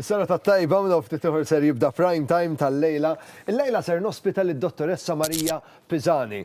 Is-serata t-tajba minn hawn ftit ieħor ser jibda Prime Time tal-lejla. Illejla ser nospita lid-Dottoressa Maria Pisani.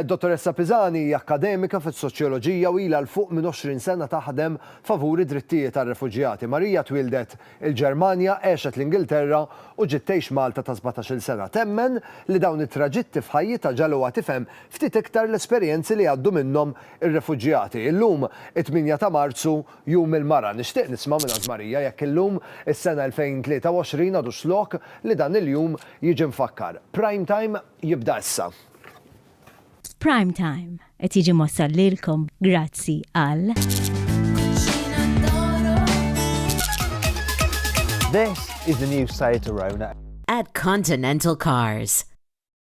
Dottoressa Pisani hi akkademika fis-Soċjoloġija u ilha 'l fuq minn 20 sena taħdem favur id-drittijiet għar-refuġjati. Maria twieldet il-Ġermanja, għexet l-Ingilterra u ġiet tgħix Malta ta' sbatax-il sena. Temmen li dawn it-traġitti f'ħajjitha ġagħluha tifhem ftit iktar l-esperjenzi li jgħaddu minnhom ir-refuġjati. Illum, it-tmienja ta' Marzu, Jum il-Mara, nixtieq nisma' mingħand Marija jekk illum, is-sena 2023, għadux lok li dan il-jum jiġi mfakkar. Prime Time jibda issa. Prime Time qed jiġi mwassal lilkom grazzi għal. This is the new Seat Arona. At Continental Cars.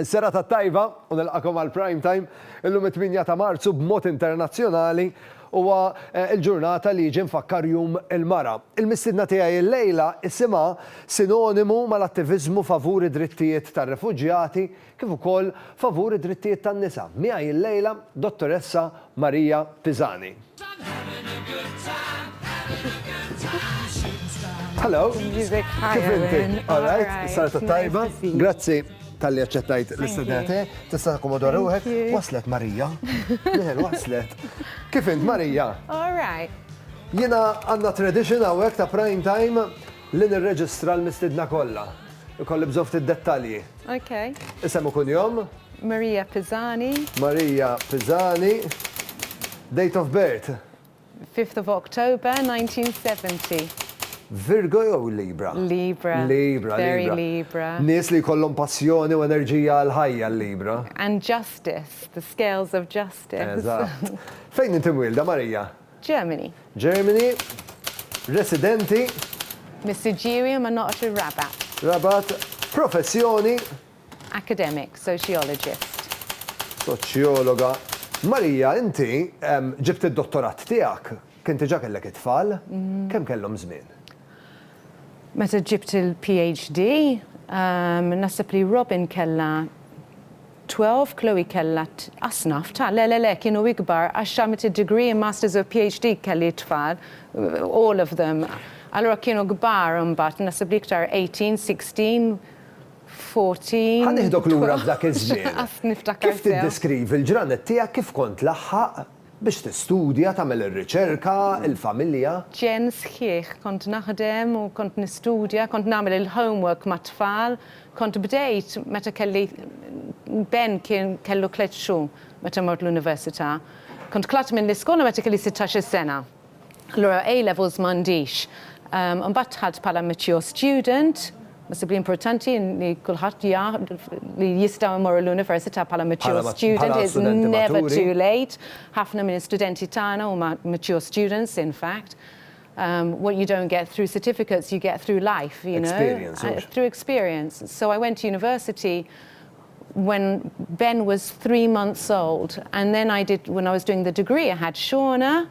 Serata t-tajba u nilqakom għal Prime Time. Illum it-tmienja ta' Marzu b'mod internazzjonali huwa l-ġurnata li jiġi mfakkar Jum il-Mara. Il-mistiedna tiegħi illejla isimha sinonimu mal-attiviżmu favur id-drittijiet tar-refuġjati kif ukoll favur id-drittijiet tan-nisa. Miegħi illejla Dottoressa Maria Pisani. Hello. Music Kif inti? All right. Sarta tajba. Grazzi tal-li għacċettajt l-istudenti, tista' akkomoda ruħek, waslet Marija. Liħel waslet. Kif int Marija? All right. Jena għanna tradition għawek ta' prime time Li nirreġistra l-mistiedna kollha. Ikolli bżonn ftit dettalji. Ok. Isem u kunjom. Maria Pisani. Maria Pisani. Date of birth. 5th of October 1970. Virgo jew Libra? Libra. Libra. Very Libra. Nies li jkollhom passjoni u enerġija għall-ħajja l-Libra. And justice, the scales of justice. Eżatt. Fejn inti mwielda, Maria? Germany. Germany, residenti. Missiġġieri ma noqgħodx ir-Rabat. Rabat, professjoni. Academic, sociologist. Soċjologa. Maria, inti ġibt id-dottorat tiegħek, kien diġà kellek it-tfal, kemm kellhom żmien? Meta ġibt il-PhD, naħseb li Robin kellha. Twelve, Chloe kellha t-asnaf ta' le le le kienu ikbar għax xamet id-degree, masters u PhD kelli t-tfal all of them allura kienu kbar imbagħad naħseb li iktar eighteen, sixteen, fourteen. Ħa nieħdok lura f'dak iż-żmien. Kif tiddeskrivi l-ġranet tiegħek kif kont tlaħħaq Biex tistudja, tagħmel ir-riċerka, il-familja. Jen sħiħ kont naħdem u kont nistudja, kont nagħmel il-homework mat-tfal, kont bdejt meta kelli Ben kien kellu tliet xhur meta mort l-università. Kont tlatt mill-iskola meta kelli sittax-il sena. Allura A levels m'għandix. Imbagħad dħalt bħala mature student, naħseb li importanti li kulħadd jaf li jistgħu jmorru l-università bħala mature student, it's never too late. Ħafna minn studenti tagħna huma mature students in fact. What you don't get through certificates you get through life, you know. Experience, mhux? Through experience. So I went to university when Ben was three months old and then I did when I was doing the degree I had Shona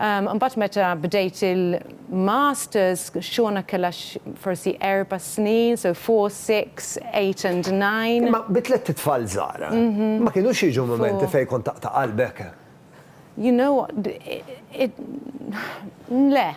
um imbagħad meta bdejt il-masters Shona kellha forsi erba' snin so four, six, eight and nine. Imma bi tlett itfal żgħar ma kinux jiġu mumenti fejn kont taqta' qalbek? You know what it le.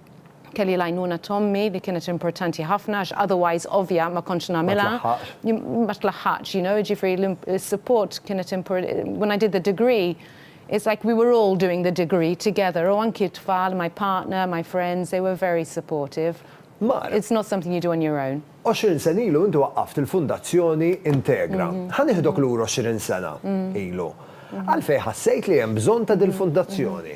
kelli l-għajnuna t'ommi li kienet importanti ħafna għax otherwise ovvja ma kontx nagħmilha. Ma tlaħħaqx. Ma tlaħħaqx, you know, jiġifieri s-support kienet when I did the degree it's like we were all doing the degree together u anki t-tfal, my partner, my friends, they were very supportive. Mara. It's not something you do on your own. Għoxrin sena ilu inti waqqaft il-Fundazzjoni Integra. Ħa nieħdok lura għoxrin sena ilu. Għalfejn ħassejt li hemm bżonn ta' dil-Fundazzjoni?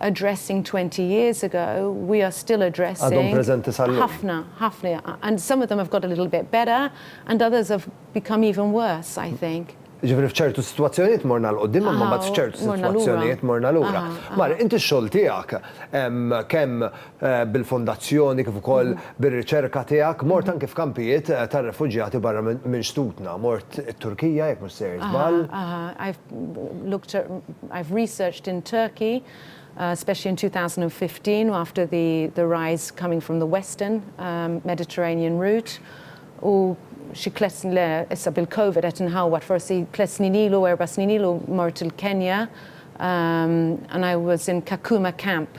addressing 20 years ago, we are still addressing. Għadhom preżenti sal-lum. Ħafna, ħafna. And some of them have got a little bit better and others have become even worse, I think. Jiġifieri f'ċertu sitwazzjonijiet morna 'l quddiem imma mbagħad f'ċertu sitwazzjonijiet morna lura. Mari, inti x-xogħol tiegħek kemm bil-Fondazzjoni kif ukoll bir-riċerka tiegħek, mort anki f'kampijiet tar-refuġjati barra minn xtutna. Mort it-Turkija, jekk mhux sejjer żball. Aha, aha. I've looked at, I've researched in Turkey, especially in 2015 after the the rise coming from the western Mediterranean route. U xi tliet snin, le, issa bil-Covid qed inħawwad, forsi tliet snin ilu, erba' snin ilu mort il-Kenja and I was in Kakuma camp.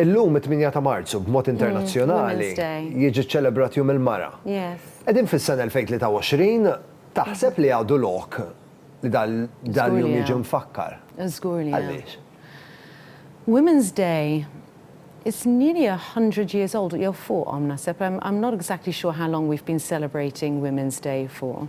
Illum, it-tmienja ta' Marzu, b'mod internazzjonali, jiġi ċċelebrat Jum il-Mara. Qegħdin fis-sena 2023, taħseb li għadu lok li dal-jum jiġi mfakkar? Żgur li għadu. Għaliex? Women's Day is nearly a hundred years old, jew fuqhom naħseb, I'm not exactly sure how long we've been celebrating Women's Day for.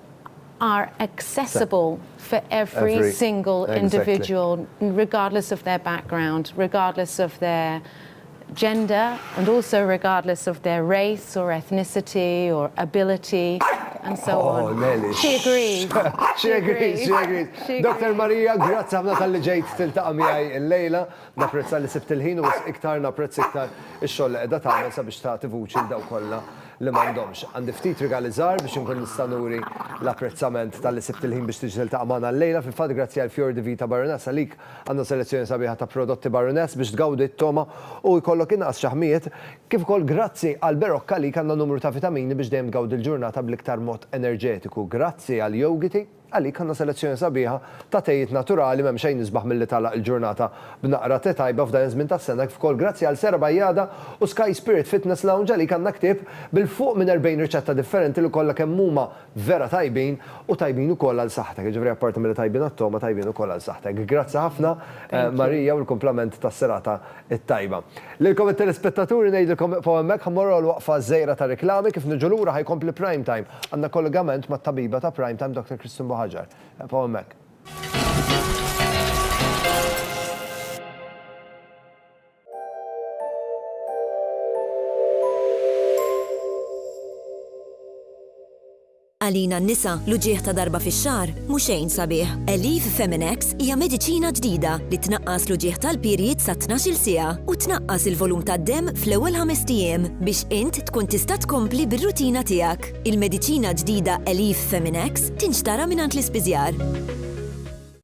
are accessible for every single individual regardless of their background, regardless of their gender and also regardless of their race or ethnicity or ability and so on. She agrees. She agrees. She agrees. Dr. Maria, grazzi ħafna tal-li ġejt tiltaqa' miegħi l-lejla. Napprezza li sibt il-ħin u iktar napprezz iktar ix-xogħol li qiegħda tagħmel sabiex tagħti vuċi l-daw kollha li m'għandhomx. Għandi ftit rigali żgħar biex inkun nista' nuri l-apprezzament talli sibt il-ħin biex tiġi tiltaqa' magħna llejla. Fil-fatt grazzi għal Fior di Vita Baroness għalik għandna selezzjoni sabiħa ta' prodotti Baroness biex tgawdi t-togħma u jkollok inqas ċaħmijiet. Kif ukoll grazzi għal Berocca għalik għandna numru ta' vitamini biex dejjem tgawdi l-ġurnata bl-iktar mod enerġetiku. Grazzi għal Yogiti. Għalik għandna selezzjoni sabiħa ta' tejiet naturali m'hemm xejn isbaħ milli tagħlaq il-ġurnata b'naqra te tajba f'dan iż-żmien tas-sena kif ukoll grazzi għal Sera Bajjada u Sky Spirit Fitness Lounge għalik għandna ktieb bil fuq minn 40 riċetta differenti li kollha kemm huma vera tajbin u tajbin ukoll għal saħħtek jiġifieri apparti milli tajbin għat-togħma tajbin ukoll għal saħħtek. Grazzi ħafna Marija u l-kumplament tas-serata it-tajba. Lilkom it-telespettaturi ngħidilkom iqfgħu hemmhekk ħa mmorru għal waqfa żgħira ta' riklami kif niġu lura ħa jkompli Prime Time. Għandna kollegament mat-tabiba ta' Prime Time Dr. Christine Buhaġar. Iqfgħu hemmhekk. Għalina n-nisa, l-uġigħ ta' darba fix-xahar mhu xejn sabiħ. Aleve Feminex hija mediċina ġdida li tnaqqas l-uġigħ tal-period sa tnax-il siegħa u tnaqqas il-volum tad-demm fl-ewwel ħamest ijiem biex int tkun tista' tkompli bir-rutina tiegħek. Il-mediċina ġdida Aleve Feminex tinxtara mingħand l-ispiżjar.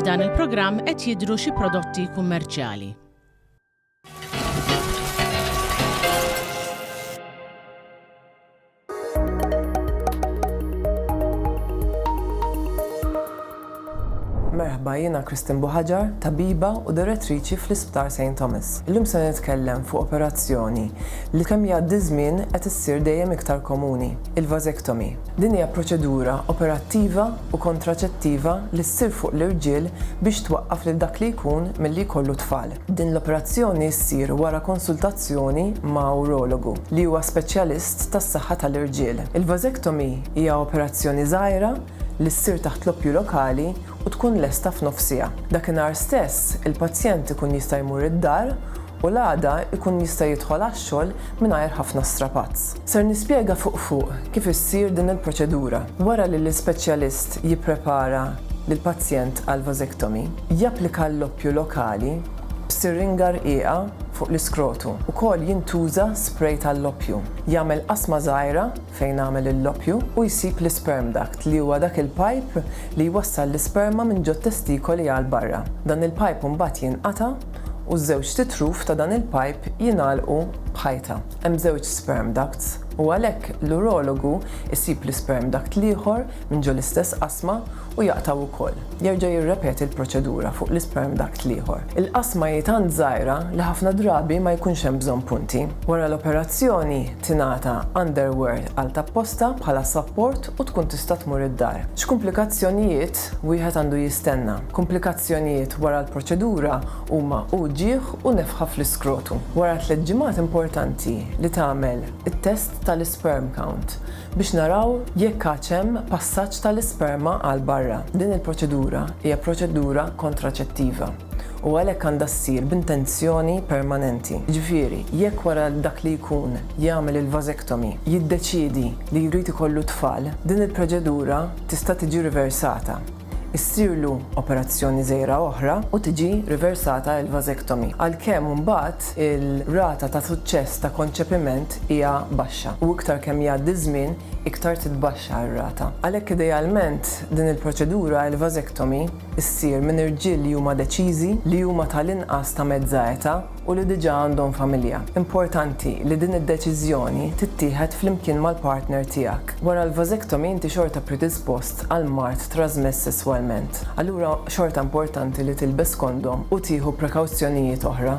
F'dan il-programm qed jidhru xi prodotti kummerċjali. Merħba jiena Kristin Buħaġar, tabiba u direttriċi fl-Isptar St. Thomas. Illum se nitkellem fuq operazzjoni li kemm jgħaddi żmien qed issir dejjem iktar komuni, il-vasektomi. Din hija proċedura operattiva u kontraċettiva li ssir fuq l-irġiel biex twaqqaf lil dak li jkun milli jkollu t-tfal. Din l-operazzjoni ssir wara konsultazzjoni ma' urologu, li huwa speċjalist tas-saħħa tal-irġiel. Il-vasectomy hija operazzjoni żgħira li ssir taħt l-oppju lokali u tkun lesta f'nofsiha. Dakinhar stess, il-pazjent ikun jista' jmur id-dar u l-għada jkun jista' jidħol għax-xogħol mingħajr ħafna strapazz. Ser nispjega fuq fuq kif issir din il-proċedura. Wara li l-ispeċjalist jipprepara lill-pazjent għal vasectomy, japplika l-loppju lokali b'siringa rqiqa fuq l-iskrotu. Ukoll jintuża spray tal-loppju. Jagħmel qasma żgħira fejn għamel il-loppju u jsib l-isperm duct li huwa dak il-pajp li jwassal l-isperma minn ġot-testikoli għal barra. Dan il-pajp imbagħad jinqata'. u ż-żewġt itruf ta' dan il-pajp jingħalqu b'ħajta. Hemm żewġ sperm ducts u għalhekk l-urologu jsib l-isperm duct l-ieħor minn ġo l-istess qasma u jaqtgħu wkoll. Jerġa' jirrepeti l-proċedura fuq l-isperm duct l-ieħor. Il-qasma hi tant żgħira li ħafna drabi ma jkunx hemm bżonn punti. Wara l-operazzjoni tingħata underwear għal tapposta bħala sapport u tkun tista' tmur id-dar. X'kumplikazzjonijiet wieħed għandu jistenna. Kumplikazzjonijiet wara l-proċedura huma uġigħ u nefħa fl-iskrotu. Wara tliet ġimgħat importanti li tagħmel it-test tal-isperm count biex naraw jekk għadx hemm passaġġ tal-isperma għal barra. Din il-proċedura hija proċedura kontraċettiva u għalhekk għandha ssir b'intenzjoni permanenti. Jiġifieri, jekk wara dak li jkun jagħmel il-vasectomy jiddeċiedi li jrid ikollu t-tfal, din il-proċedura tista' tiġi riversata, issirlu operazzjoni żgħira oħra u tiġi riversata l-vasectomy, għalkemm imbagħad ir-rata ta' suċċess ta' konċepiment hija baxxa u iktar kemm jgħaddi ż-żmien iktar titbaxxa r-rata. Għalhekk idealment din il-proċedura, il-vasectomy, issir minn irġiel li huma deċiżi, li huma tal-inqas ta' mezza età, u li diġà għandhom familja. Importanti li din id-deċiżjoni tittieħed flimkien mal-partner tiegħek. Wara l-vasectomy inti xorta predispost għal mard trażmess sesswalment. Allura xorta importanti li tilbes kondom u tieħu prekawzjonijiet oħra.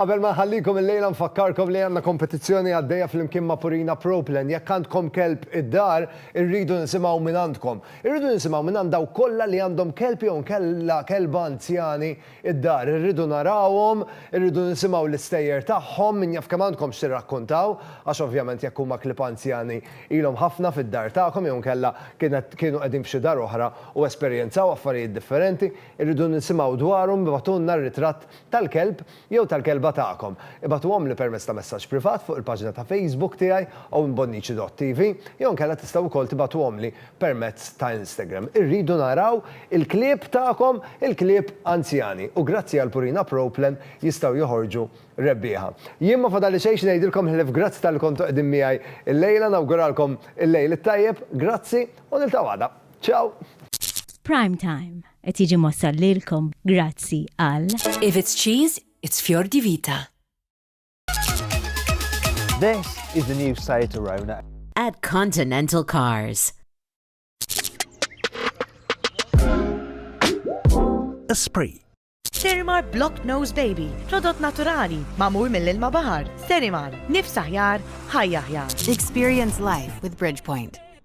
Qabel ma nħallikom illejla nfakkarkom li għandna kompetizzjoni għaddejja flimkien ma' Purina Pro Plan. Jekk għandkom kelb id-dar, irridu nisimgħu mingħandkom. Irridu nisimgħu mingħand dawk kollha li għandhom kelb jew inkella kelba anzjani id-dar. Irridu narawhom, irridu nisimgħu l-istejjer tagħhom, min jaf kemm għandkom x'tirrakkuntaw, għax ovvjament jekk huma klieb anzjani ilhom ħafna fid-dar tagħkom jew inkella kienet kienu qegħdin f'xi dar oħra u esperjenzaw affarijiet differenti. Irridu nisimgħu dwarhom, ibgħatulna r-ritratt tal-kelb jew tal-kelba tagħkom, ibagħtuhomli permezz ta' messaġġ privat fuq il-paġna ta' Facebook tiegħi owenbonnici.tv jew inkella tistgħu wkoll tibagħtuhomli permezz ta' Instagram. Irridu naraw il-klieb tagħkom, il-klieb anzjani, u grazzi għal Purina Pro Plan jistgħu joħorġu rebbieħa. Jien ma fadalli xejn x'ngħidilkom ħlief grazzi talli kontu qegħdin miegħi llejla, nawguralkom il-lejl it-tajjeb, grazzi u niltaqgħu għada. Ciao! Prime Time. Qed jiġi mwassal lilkom grazzi għal. If it's cheese, it's Fior di Vita. This is the new Seat Arona. At Continental Cars. Esprit. Sterimar Block Nose Baby, prodott naturali, mamur mill-ilma bahar. Sterimar, nifs aħjar, ħajja aħjar. Experience life with Bridgepoint.